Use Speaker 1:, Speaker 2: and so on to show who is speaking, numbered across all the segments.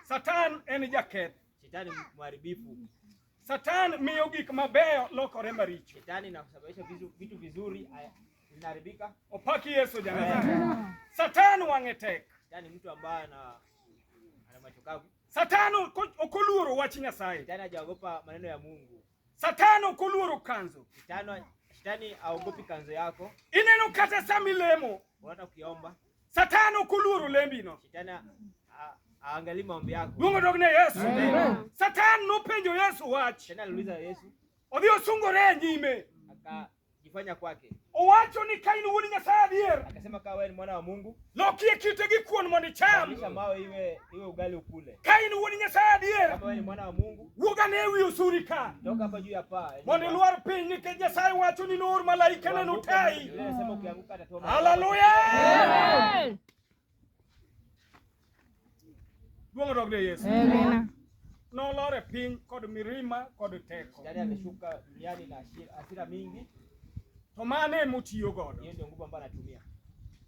Speaker 1: Satan en jaketh. Shetani mharibifu.
Speaker 2: Satan
Speaker 1: miyo gik mabeyo lokore maricho. Shetani inasababisha
Speaker 2: vitu vizuri vinaharibika. Opaki Yesu
Speaker 1: jana. Satan wang'e tek. Shetani mtu ambaye ana
Speaker 2: ana macho kavu. Satan
Speaker 1: okoluoro wach Nyasaye. Shetani hajaogopa maneno
Speaker 2: ya Mungu. Satan okoluoro
Speaker 1: kanzo. Shetani shetani
Speaker 2: aogopi kanzo yako. Ineno kata
Speaker 1: samilemo. Unaona ukiomba.
Speaker 2: Satan ok
Speaker 1: oluoro lembino.
Speaker 2: Aangalie maombi yako. Duong' odog ne Yesu.
Speaker 1: Satan nopenjo Yesu wach. Tena aliuliza Yesu.
Speaker 2: Odhi osungore
Speaker 1: e nyime. Akajifanya
Speaker 2: kwake. Owacho ni ka in
Speaker 1: wuod Nyasaye adier. Akasema ka wewe ni mwana wa
Speaker 2: Mungu. Lokie kite gi
Speaker 1: kuon mondo icham. Kisha mawe iwe
Speaker 2: iwe ugali ukule. Ka in wuod Nyasaye
Speaker 1: adier. Kama wewe ni mwana wa Mungu.
Speaker 2: Wuogane e wi osuri
Speaker 1: ka eh,
Speaker 2: mondo ilwar piny
Speaker 1: nikech Nyasaye wacho ni noor malaikane notayi.
Speaker 2: Haleluya!
Speaker 1: Duong' odog ne Yesu.
Speaker 3: Nolor e
Speaker 1: piny kod mirima kod teko.
Speaker 2: To
Speaker 1: mane motiyo godo?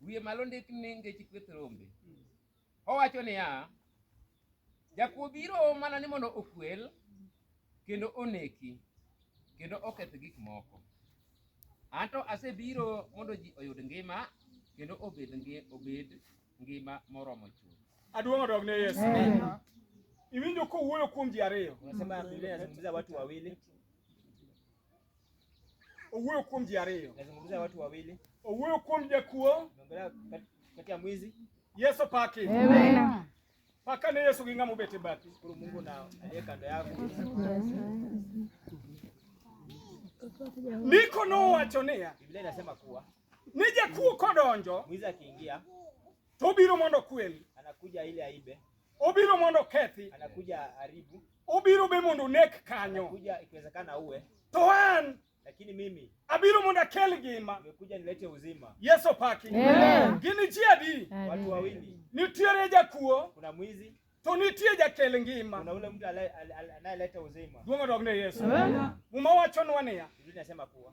Speaker 4: wiye malo ndik ni ngeche kweth rombe. Owacho niya, jakuo biro mana ni mondo okwel kendo oneki kendo oketh gik moko. Anto asebiro mondo ji oyud ngima kendo obed ngi- obed ngima moromo chuth. Aduong' odog ne Yesu.
Speaker 1: Iwinjo kowuoyo kuom ji ariyo. Unasema Biblia inazungumzia
Speaker 2: watu wawili
Speaker 1: Owuoyo kuom ji ariyo. Nazungumzia watu wawili.
Speaker 2: Owuoyo kuom jakuo.
Speaker 1: Naongelea
Speaker 2: kati ya mwizi. Yesu paki.
Speaker 1: Amen.
Speaker 3: Paka ne
Speaker 1: Yesu ginga mubete bati. Kuru Mungu na aliye
Speaker 2: kando yako.
Speaker 1: Niko no wacho niya. Biblia inasema kuwa
Speaker 2: ni jakuo
Speaker 1: kodonjo. Mwizi akiingia
Speaker 2: to obiro
Speaker 1: mondo kweli, anakuja ile aibe,
Speaker 2: obiro mondo
Speaker 1: kethi, anakuja aribu.
Speaker 2: Obiro be mondo
Speaker 1: onek kanyo. Kuja ikiwezekana
Speaker 2: uwe. To an
Speaker 1: lakini mimi
Speaker 2: abiro mondo akel
Speaker 1: ngima, nimekuja nilete uzima.
Speaker 2: Yesu paki.
Speaker 1: Amen. Gini ji
Speaker 3: adi?
Speaker 1: Watu wawili.
Speaker 2: Nitiere jakuo.
Speaker 1: Kuna mwizi.
Speaker 2: To nitie jakel
Speaker 1: ngima. Kuna ule mtu
Speaker 2: anayeleta uzima. Duong' odog ne Yesu.
Speaker 1: Muma wachonwa niya. Biblia inasema kuwa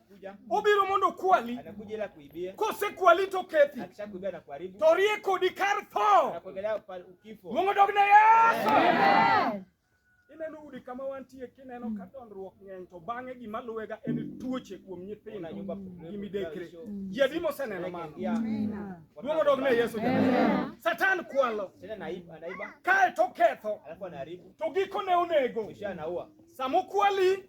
Speaker 2: obiro mondo okwali, kosekwali to
Speaker 1: kethi, to
Speaker 2: rie kodi kar
Speaker 1: tho, luongo
Speaker 2: dog ne
Speaker 1: Yesu.
Speaker 3: Ineno
Speaker 1: udi kama wantie kineno ka dondruok ng'eny to bang'e gima luwega en tuoche kuom nyithindo gi midekre. Ji adi moseneno mano? Duong' odog ne Yesu. Satan kwalo
Speaker 2: kae to
Speaker 1: ketho to
Speaker 2: gikone onego. Samokwali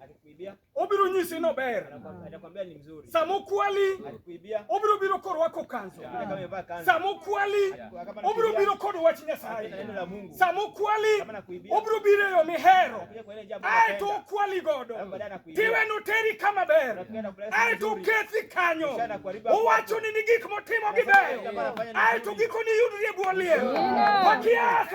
Speaker 2: obiro nyisi
Speaker 1: nober. Atakwambia ni mzuri.
Speaker 2: Sama okwali, Atakuibia.
Speaker 1: obiro
Speaker 2: biro korwako
Speaker 1: kanzu. Hata kama amevaa kanzu. Sama
Speaker 2: okwali,
Speaker 1: obiro biro kod wach Hata Nyasaye. neno la Mungu. Sama
Speaker 2: okwali, Kama
Speaker 1: nakuibia. obiro
Speaker 2: biro e yo mihero.
Speaker 1: Atakuja kwa ile jambo Ae
Speaker 2: to unapenda. okwali godo.
Speaker 1: Alafu baadaye anakuibia. Tiwe noteri kama ber. Atakuja na kupeleka Ae to vizuri. okethi kanyo. Kisha anakuharibu hapo. Owacho ni ni gik motimo gi Anasema beyo. kama anafanya ni Ae to mzuri. gikoni iyudri e bwo liel. Wakiasi.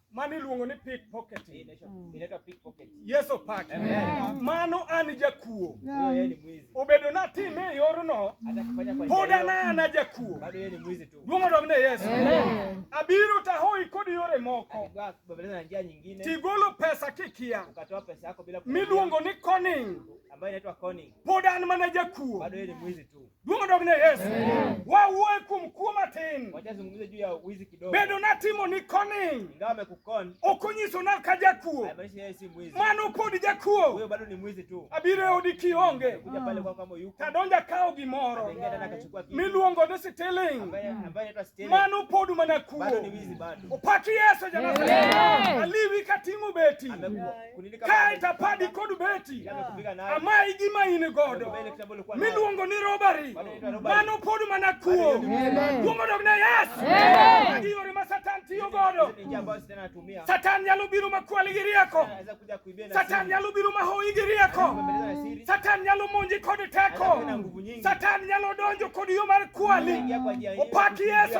Speaker 1: Mano
Speaker 2: iluongo ni
Speaker 1: pickpocketing. Mm. Inaitwa
Speaker 2: pickpocketing. Yesu pake.
Speaker 1: Mano an jakuo.
Speaker 2: Obedo na time e
Speaker 1: yorno. Pod
Speaker 2: an ana jakuo.
Speaker 1: Bado yeye ni mwizi tu.
Speaker 2: Duong' odog ne Yesu.
Speaker 1: Abiro tahoi kod yore moko. Babeleza njia
Speaker 2: nyingine. Tigolo pesa
Speaker 1: kikia. Ukatoa pesa yako bila.
Speaker 2: Miluongo ni conning. Ambayo inaitwa
Speaker 1: conning.
Speaker 2: Pod an
Speaker 1: mana
Speaker 2: jakuo. Bado
Speaker 1: yeye
Speaker 2: ni
Speaker 1: mwizi
Speaker 2: tu. Duong'
Speaker 1: odogne Yesu. Wawuoye kuom kuo matin. Wachazungumze juu ya
Speaker 2: wizi kidogo. Bedo natimo ni
Speaker 1: koni. Ingawa amekukon.
Speaker 2: Ok onyiso na ka
Speaker 1: jakuo. Haimaanishi yeye si mwizi.
Speaker 2: Mano pod jakuo.
Speaker 1: Huyo bado ni mwizi tu.
Speaker 2: Abiro e odi kionge.
Speaker 1: Kuja pale kwa kama yuko.
Speaker 2: Tadonja kawo gimoro.
Speaker 1: Anaingia ndani akachukua kitu.
Speaker 2: Miluongo ni stealing.
Speaker 1: Ambaye ambaye anaitwa stealing.
Speaker 2: Mano pod mana
Speaker 1: kuo. Bado ni wizi bado.
Speaker 2: Opaki Yesu jana.
Speaker 1: Aliwi kating'o beti. Amekuwa. ka
Speaker 2: itapadi
Speaker 1: kod beti amayi
Speaker 2: gima in
Speaker 1: godo miluongo ni robari mano pod mana kuo kuongo dog na yesu magi yore ma satan tiyo godo satan nyalo biro makwali gi rieko satan nyalo biro mahoyi gi rieko satan nyalo monji kod teko satan nyalo donjo kod yo mar kwali opaki yesu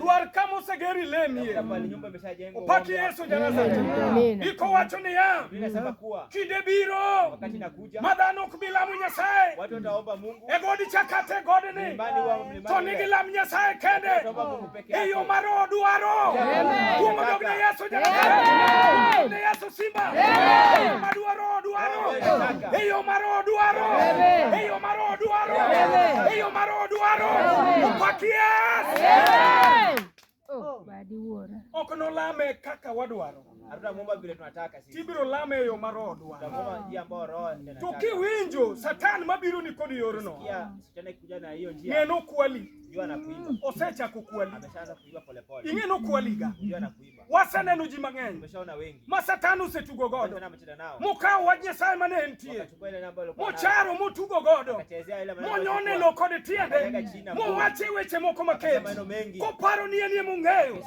Speaker 2: Dwar ka moseger
Speaker 1: ilemie.
Speaker 2: Opaki Yesu
Speaker 1: Janazareth. Iko wacho niya, kinde
Speaker 2: biro
Speaker 1: ma
Speaker 2: dhano ok bi lamo
Speaker 1: Nyasaye
Speaker 2: e god Chakate
Speaker 1: godni, to
Speaker 2: nigi lam Nyasaye
Speaker 1: kende e
Speaker 2: yo mar odwaro.
Speaker 1: Kuom dog ne Yesu Janazareth. Simba eyo ma dwaro dwaro eyo ma roho dwaro eyo ma roho dwaro eyo ma roho dwaro
Speaker 3: opak Yesu oh, oh, ok nolame
Speaker 1: kaka wadwaro hatutamuomba vile
Speaker 2: tunataka sisi. Tibiro lame yo marodwa.
Speaker 1: Tutamuomba njia ambayo roho
Speaker 2: anataka. Tukiwinjo
Speaker 1: satan mabiro ni kodi yorno. Sikia shetani kuja
Speaker 2: na hiyo njia. Ng'eno kwali. Jua
Speaker 1: na kuiba.
Speaker 2: Osechako kwali.
Speaker 1: Ameshaanza kuiba polepole.
Speaker 2: Ing'eno kwaliga.
Speaker 1: Jua na kuiba.
Speaker 2: Waseneno ji mang'eny
Speaker 1: ma Satan
Speaker 2: osetugo
Speaker 1: godo mokawo
Speaker 2: wach Nyasaye
Speaker 1: mane entie
Speaker 2: mocharo motugo godo
Speaker 1: monyone
Speaker 2: lo kod tiende
Speaker 1: mowache weche moko maket koparo
Speaker 2: ni enie
Speaker 1: mong'eyo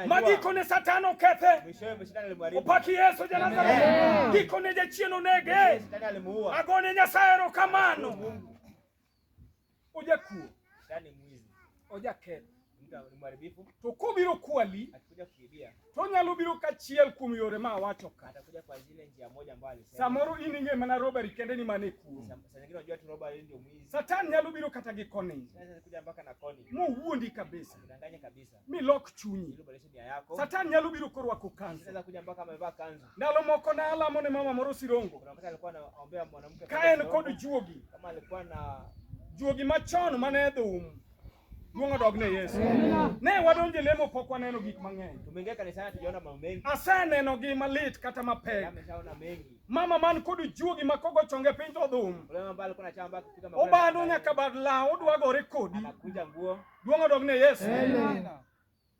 Speaker 1: ma gikone
Speaker 2: Satan
Speaker 1: okethe.
Speaker 2: Opaki Yesu Janazareth,
Speaker 1: gikone jachien onege. Agone
Speaker 2: Nyasaye
Speaker 1: erokamano. ojakuo yani
Speaker 2: mwizi ojaketho mharibifu to kobiro kwali
Speaker 1: akikuja kuibia
Speaker 2: to nyalo biro
Speaker 1: kachiel kuom yore ma awacho ka atakuja kwa zile njia
Speaker 2: moja ambayo alisema samoro in ing'e mana
Speaker 1: robbery kende ni mane kuo saa nyingine unajua tu robbery
Speaker 2: ndio mwizi satan nyalo biro kata
Speaker 1: gi koni kuja mpaka na
Speaker 2: koni mowuondi kabisa
Speaker 1: danganya kabisa mi
Speaker 2: lok chunyi. Satan nyalo biro korwako
Speaker 1: kanzu.
Speaker 2: Ndalo moko na alamo
Speaker 1: ne mama moro Sirongo,
Speaker 2: ka en kod juogi, juogi machon
Speaker 1: mane edho umu Duong' odog ne Yesu. Ne wadonje lemo pok waneno gik mang'eny. Tumeingia kanisani tujaona
Speaker 2: mambo mengi. Aseneno gi malit
Speaker 1: kata mapek. Ameshaona mengi.
Speaker 2: Mama man kod
Speaker 1: juogi ma kogo chonge piny to dhum.
Speaker 2: Obando nyaka bad
Speaker 1: law odwa gore kodi. Anakunja nguo.
Speaker 2: Duong' odog ne Yesu.
Speaker 1: Amen.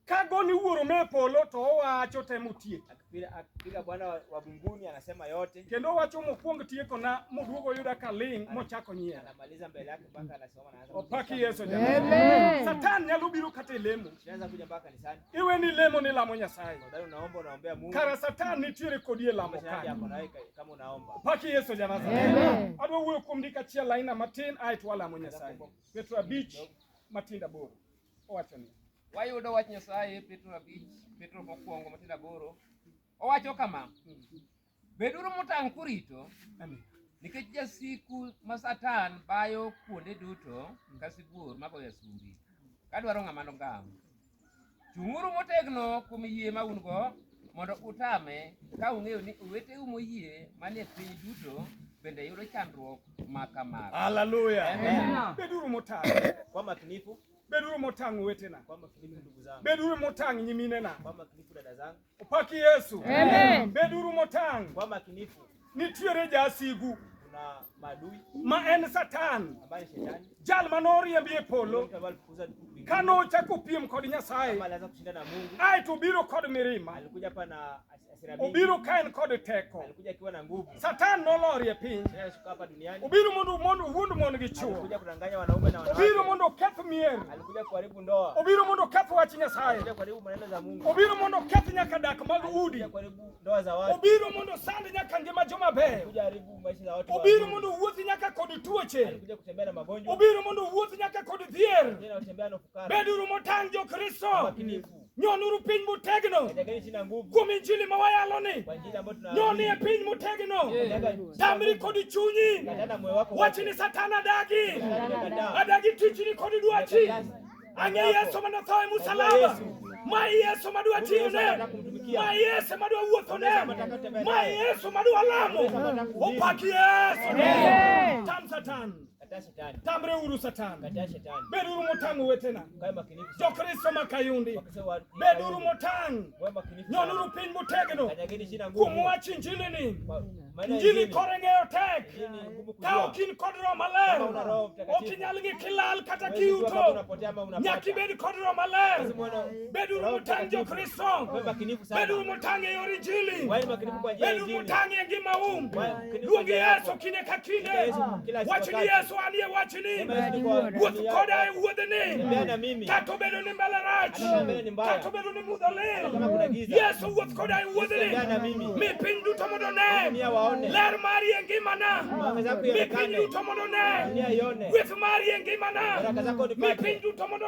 Speaker 1: Ka goni wuoro me polo to owacho temo tiek. Akipiga Bwana
Speaker 2: wa mbinguni anasema yote. Kendo owacho mokuong
Speaker 1: tieko na moduogo yuda ka ling mochako nyiera. Anamaliza mbele yake mpaka
Speaker 2: anasoma na anasema. Opaki Yesu jamani.
Speaker 1: Amen. Satan nyalo biro kata lemo. Anaweza kuja mpaka kanisani.
Speaker 2: Iwe ni lemo ni lamo
Speaker 1: Nyasaye. Ndio unaomba unaombea
Speaker 2: Mungu. Kara Satan nitiere
Speaker 1: kodie lamo kare. Kama unaomba.
Speaker 2: Opaki Yesu jamani.
Speaker 1: Amen. Adwa wuoyo kuom ndika chiel aina matin aitwa lamo Nyasaye. Petro abich matindo aboro owacho ni wayudo wach Nyasaye
Speaker 4: Petro abich Petro mokwongo matindo aboro owacho kama beduru motang' kurito nikech
Speaker 1: jasiku
Speaker 4: ma Satan bayo kuonde duto ka sibuor magoyo asumbi kadwaro ng'ama nogam Chung'uru motegno kuom yie ma un-go mondo utame, ka ung'eyo ni oweteu moyie manie piny duto bende yudo chandruok ma kamano. Haleluya.
Speaker 1: Beduru
Speaker 2: motang'.
Speaker 1: Kwa makinifu.
Speaker 2: Beduru motang'
Speaker 1: wetena. Kwa makinifu ndugu zangu.
Speaker 2: Beduru motang' nyiminena.
Speaker 1: Kwa makinifu dada zangu.
Speaker 2: Upaki Yesu.
Speaker 1: Amen. Beduru
Speaker 3: motang'.
Speaker 1: Kwa makinifu.
Speaker 2: Nitiere
Speaker 1: jasigu. Kuna
Speaker 2: madui. Ma en Satan.
Speaker 1: Ambaye shetani.
Speaker 2: Jal manoriembi
Speaker 1: e polo.
Speaker 2: Kano ochako piem
Speaker 1: kod Nyasaye. Kama alianza kushinda
Speaker 2: na
Speaker 1: Mungu.
Speaker 2: Ai to biro kod
Speaker 1: mirima. Alikuja hapa na
Speaker 2: obiro ka en kod
Speaker 1: teko
Speaker 2: Satan nolorie
Speaker 1: piny
Speaker 2: obiro mondo mondo wuond
Speaker 1: mon gi chuo
Speaker 2: obiro mondo oketh mier obiro mondo oketh wach
Speaker 1: Nyasaye
Speaker 2: obiro mondo oketh nyaka
Speaker 1: dak mag udi obiro mondo sand nyaka
Speaker 2: ngima
Speaker 1: joma
Speaker 2: beyo
Speaker 1: obiro mondo wuoth nyaka kod tuoche
Speaker 2: obiro mondo wuoth nyaka
Speaker 1: kod dhier
Speaker 2: beduru motang' jo
Speaker 1: Kristo
Speaker 2: Nyonuru piny
Speaker 1: motegno kuom
Speaker 2: injili ma wayaloni.
Speaker 1: Nyonie
Speaker 2: piny motegno,
Speaker 1: tamri kod chunyi. Wach
Speaker 2: ni Satan adagi,
Speaker 1: adagi tichni kod dwachi. Ang'e Yesu ma notho e musalaba, ma Yesu ma dwa tiyone ma Yesu madwa wuotho ne ma Yesu madwa lamo opaki Yesu tam satan Kataa shetani. Tambre
Speaker 2: uru satani.
Speaker 1: Kataa shetani. Beduru
Speaker 2: motangu wetena.
Speaker 1: Kae makinifu. Jo
Speaker 2: Kristo makayundi.
Speaker 1: Beduru motangu. Kae makinifu. Nyonuru
Speaker 2: piny motegno.
Speaker 1: Kanyageni shina ngumu. Kumu
Speaker 2: wachi njili ni.
Speaker 1: Njili kore ng'eyo tek. Ka okin kod roho maler. Okinyal gi kilal kata kiuto. Nyakibed kod roho maler. Bedu mutang jo Kristo. Bedu mutang e yor Injili. Bedu mutang e ngima um. Luongi Yesu kinde ka kinde. Wachni Yesu anie wachni. Wuoth koda e wuodhni. Kata obedo ni mbala rach. Kata obedo ni mudho lit. Yesu wuoth koda e wuodhni. Mi piny duto mondo ne. Ler mari e ngimana. Mi piny duto mondo ne. Gweth mari e ngimana. Mi piny duto mondo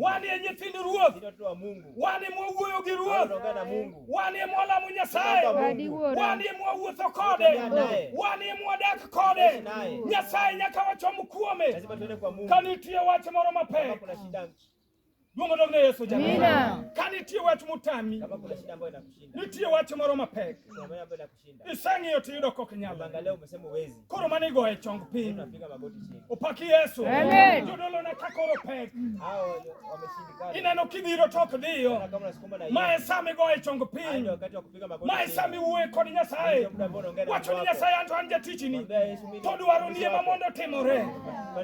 Speaker 2: wan e nyithind Ruoth,
Speaker 1: wan
Speaker 2: e mwawuoyo gi
Speaker 1: Ruoth, wan
Speaker 2: e mwalamo
Speaker 1: Nyasaye, wan e mwawuotho kode, wan e mwadak kode. Nyasaye nyaka wachom kuome. Ka
Speaker 2: nitie wach moro
Speaker 1: mapek
Speaker 2: Luongo dog
Speaker 1: ne Yesu jamani. Ka nitie wach mutami,
Speaker 2: nitie wach moro
Speaker 1: mapek,
Speaker 2: Iseng'iyo to iyudo kok
Speaker 1: nyalo. Angalia umesema uwezi.
Speaker 2: Koro mane igoye chong
Speaker 1: piny. Unapiga magoti chini.
Speaker 2: Upaki Yesu.
Speaker 1: Amen. Jodolo na
Speaker 3: kakoro
Speaker 1: pek. Hao
Speaker 2: wameshindikana. Ineno kidhiro tok
Speaker 1: dhiyo. Kama unasukuma na hiyo.
Speaker 2: Mae sami goye chong
Speaker 1: piny. Wakati wa kupiga magoti.
Speaker 2: Mae sami uwe kod
Speaker 1: Nyasaye. Wacho ni Nyasaye anto an jatichini. To dwaro ni ema mondo timore.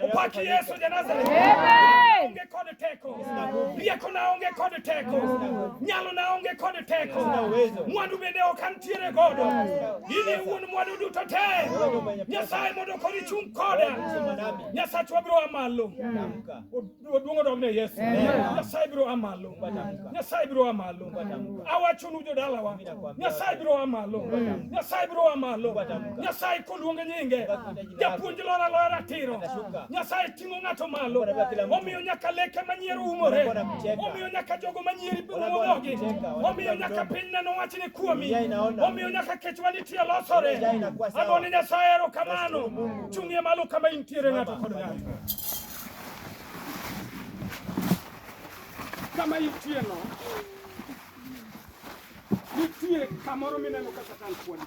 Speaker 1: Upaki Yesu ja Nazareth. Amen. Onge kod teko rieko naonge kod teko nyalo naonge kod teko mwandu bende ok antiere godo in iwuon mwandu duto te nyasaye mondo kori chung' koda nyasachwa biro a malo oduong' odogne yesu nyasaye biro a malo nyasaye biro a malo awachonu jodalawa nyasaye biro a malo nyasaye biro a malo nyasaye koluonge nyinge japuonj lora lora ratiro nyasaye ting'o ng'ato malo. Omiyo nyaka leke manyiero umore. Omiyo nyaka jogo manyieri umogi. Omiyo nyaka piny neno wach ni kuomi. Omiyo nyaka kech wanitie losore. Agone Nyasaye erokamano. Chung'ie malo kama intiere ng'ato kod ng'ato. Kama intie no. Nitie kamoro mineno ka Satan kuonde.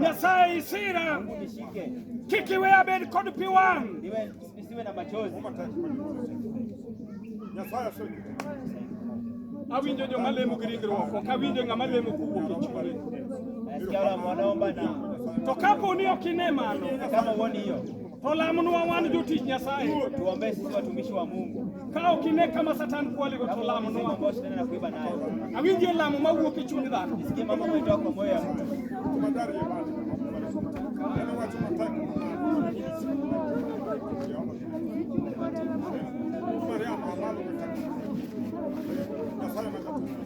Speaker 2: Nyasaye isira kik iwe abed
Speaker 1: kod pi wang' awinjo joma lemo gi ringruok ok awinjo ng'ama lemo kowuok e chwore
Speaker 2: to
Speaker 1: kapo ni ok ine mano To lamonwa wan jotich Nyasaye. Tuombee sisi watumishi
Speaker 2: wa Mungu. Ka ok ine kama
Speaker 1: Satan kwaligo to lamonwa. Ambao shetani anakuiba nayo.
Speaker 2: Awinjie lamo
Speaker 1: mawuok e chuny dhano. Nisikie mambo yanayotoka kwa
Speaker 2: moyo ya mtu.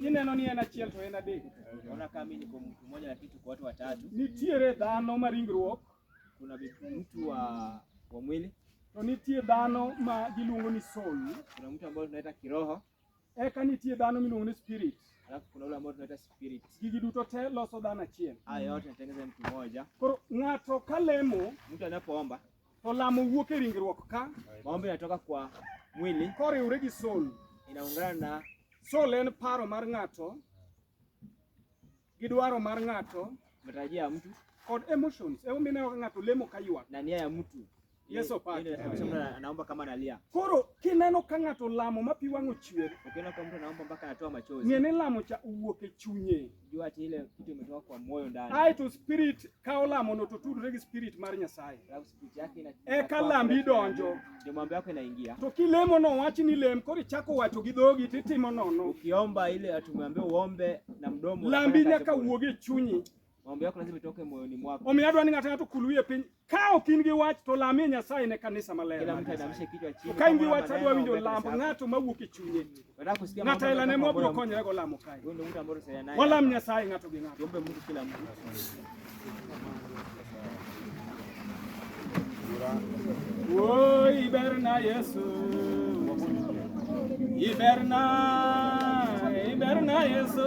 Speaker 1: Ineno ni en achiel to en adek. Ona kama mimi niko
Speaker 2: mtu mmoja lakini tuko watu watatu. Nitiere dhano
Speaker 1: ma ringruok. Kuna
Speaker 2: mtu wa wa mwili. To nitie
Speaker 1: dhano ma giluongo ni soul. Kuna mtu ambaye tunaita
Speaker 2: kiroho. Eka nitie
Speaker 1: dhano miluongo ni spirit. Alafu kuna ule ambao
Speaker 2: tunaita spirit. Gigi duto te loso
Speaker 1: dhano achiel. Haya yote yanatengeneza mtu
Speaker 2: mmoja. Koro ng'ato
Speaker 1: kalemo, mtu anapoomba
Speaker 2: To lamo wuok
Speaker 1: e ringruok ka. Maombi yanatoka kwa
Speaker 2: mwili. Koriwre gi soul.
Speaker 1: Inaungana na
Speaker 2: soul en paro
Speaker 1: mar ng'ato gi dwaro mar ng'ato, matarajio ya mtu
Speaker 2: kod emotions.
Speaker 1: Hebu mimi nayo ng'ato lemo kaywa. Na nia ya mtu.
Speaker 2: Yes, opate.
Speaker 1: Anaomba
Speaker 2: kama analia. Koro kineno
Speaker 1: ka ng'ato lamo ma pi wang'o chwer. Ukiona kama mtu anaomba mpaka
Speaker 2: anatoa machozi. Ng'e ni lamo cha uwuok
Speaker 1: e chunye. Jua ati ile kitu
Speaker 2: imetoka kwa moyo ndani. Ai to spirit
Speaker 1: ka olamo no to tudre gi spirit mar Nyasaye. Alafu spirit yake
Speaker 2: ina E ka lambi
Speaker 1: donjo. Ndio mambo yako inaingia.
Speaker 2: To kilemo no wachi
Speaker 1: ni lem kori chako wacho gi dhogi titimo nono. Ukiomba ile atumeambia
Speaker 2: uombe na mdomo. Lambi nyaka wuoge
Speaker 1: chunyi. Mambo yako lazima itoke
Speaker 2: moyoni mwako. Omiyo adwani ng'ata ng'ato kulwie
Speaker 1: piny Ka ok in gi wach to lamie Nyasaye ne kanisa maler. Kila mtu adamishe kichwa
Speaker 2: chini. Ka in gi wach adwa winjo
Speaker 1: lamb ng'ato mawuok e chunye. Nataka kusikia Ng'ato
Speaker 2: aila ne mwa biro
Speaker 1: konyore go lamo kae. Wewe ndio mtu ambaye unasaidia naye.
Speaker 2: Walam Nyasaye ng'ato gi
Speaker 1: ng'ato. Tuombe Mungu kila mtu. Woi iberna Yesu. Iberna, iberna Yesu.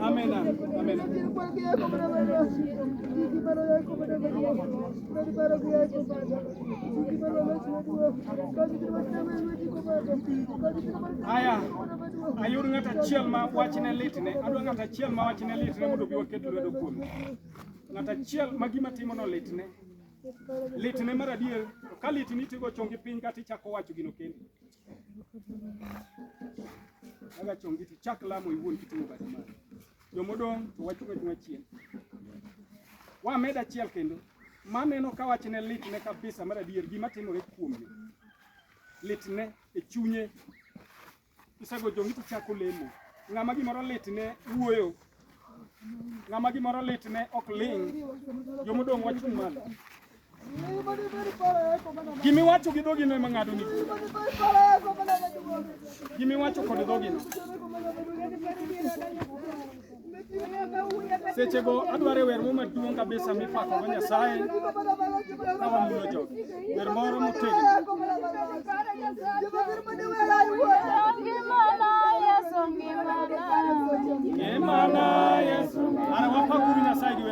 Speaker 1: Amén. Amén. Aya, ayudo ng'at achiel ma wachne litne, adwa ng'at achiel ma wachne litne mondo obi waket lwedo kuome. ng'at achiel ma gima timono litne litne mar adier to ka litni tigo chongi piny kata ichako wacho gino kendi aga chongi to chak lamo iwuon kitimo badi mari jomodong' to wachung' achung'a chien wamed achiel kendo maneno ka wachne litne kabisa mar adier gima timore kuome litne e chunye Isego jongi to chako lemo. Ng'ama gimoro litne wuoyo. Ng'ama gimoro litne ok ling'. Jomodong' wachung' malo. Gimi wacho gi dhogi no ema ng'ado ni. Gimi wacho kod dhogi no. seche go adwaro wer mo maduong' kabisa mipako go Nyasaye ka wamulo jogi wer moro motegno Ngimana Yesu, ara wapakuru Nyasaye gi wer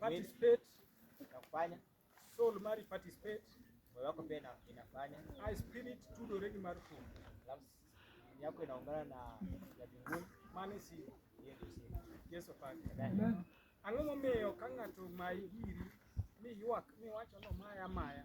Speaker 2: participate inafanya soul
Speaker 1: mari participate moyo wako pia ina-
Speaker 2: inafanya i spirit
Speaker 1: tudo regi mar kum alafu dini
Speaker 2: yako inaungana na ya mbinguni mane si hiyo
Speaker 1: ndio siri
Speaker 2: yeso pake Amen.
Speaker 1: ang'o
Speaker 2: momiyo
Speaker 1: ka ng'ato mayi giri mi ywak mi wacho no maya maya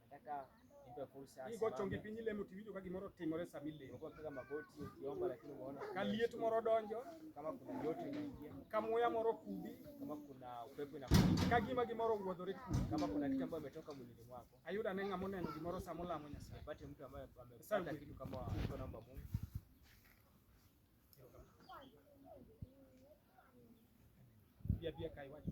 Speaker 1: Nipe
Speaker 2: fursa. Hii gocho ngi piny lemo
Speaker 1: tiwinjo ka gimoro timore sama ilemo. Uko piga magoti
Speaker 2: ukiomba lakini umeona Ka liet moro donjo,
Speaker 1: kama kuna joto inaingia,
Speaker 2: ka muya moro
Speaker 1: kudhi, kama kuna upepo
Speaker 2: inakuja, ka gima gimoro wuodhore
Speaker 1: kudhi. kama kuna kitu ambayo imetoka
Speaker 2: mwilini mwako. Ayudo ane ng'ama oneno
Speaker 1: gimoro sama olamo Nyasaye. Nipate mtu ambaye Sasa
Speaker 2: amepata kitu kama mtu anaomba Mungu.
Speaker 1: Bia bia kai wacho.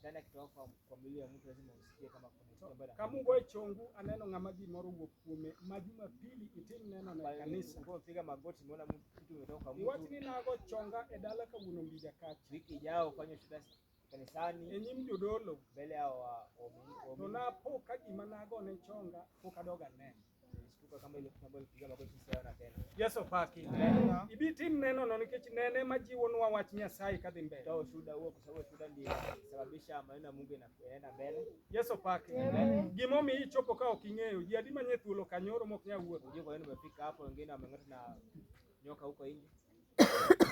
Speaker 1: ndani ya kitoka kwa, kwa
Speaker 2: milio ya mtu lazima usikie kama kuna kitu ambacho kamugo chongu
Speaker 1: aneno ngama ji moro wuok kume ma jumapili itim neno na kanisa ngo piga magoti umeona
Speaker 2: mtu kitu umetoka kwa mtu iwach ni nago chonga
Speaker 1: e dala ka wuno mbija kacha wiki ijao fanya
Speaker 2: shida kanisani e nyim jodolo
Speaker 1: mbele ya wa
Speaker 2: to
Speaker 1: napo ka gima nago ne chonga pok adoga neno Yesu
Speaker 2: paki.
Speaker 1: Ibi tim neno no nikech nene majiwo nwa wach Nyasaye kadhi mbele. Toa ushuhuda huo kwa sababu
Speaker 2: ushuhuda ndiye sababisha maneno ya Mungu yanaenda mbele. Yesu paki.
Speaker 1: Gimo mi ichopo ka ok ing'eyo. Ji adi manye thuolo kanyoro mok nya wuotho. Unajua kwa nini umefika hapo,
Speaker 2: wengine wameng'ata na nyoka huko nje.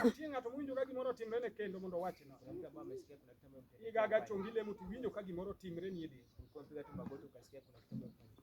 Speaker 2: Nitie
Speaker 1: ng'ato mowinjo ka gimoro timre ne kendo mondo owachi no. Kuna mtu ambaye amesikia kuna kitu
Speaker 2: ambaye mtu Igaga chongi lemo to
Speaker 1: iwinjo ka gimoro timre ni e dendi. ulikuwa mpiga tu magoti
Speaker 2: ukasikia kuna kitu ambaye mtu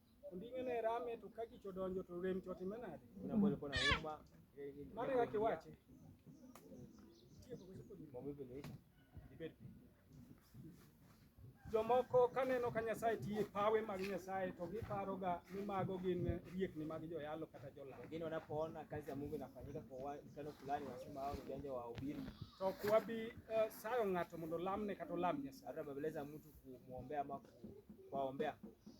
Speaker 1: Onding'e ne rame to ka kich odonjo to rem to time nade? Mane kaka iwache. Jomoko kaneno ka Nyasaye tiye pawe mag Nyasaye to giparoga ni mago gin riekni mag joyalo kata jolam. Wengine wanapoona kazi
Speaker 2: ya Mungu inafanyika kwa wa- mkutano fulani, wanasema hao ni ujanja wa wahubiri. To ok wabi
Speaker 1: eh, sayo ng'ato mondo olamne kata olam Nyasaye. Hata bembeleza mtu
Speaker 2: kumwombea ama ku- kuwaombea.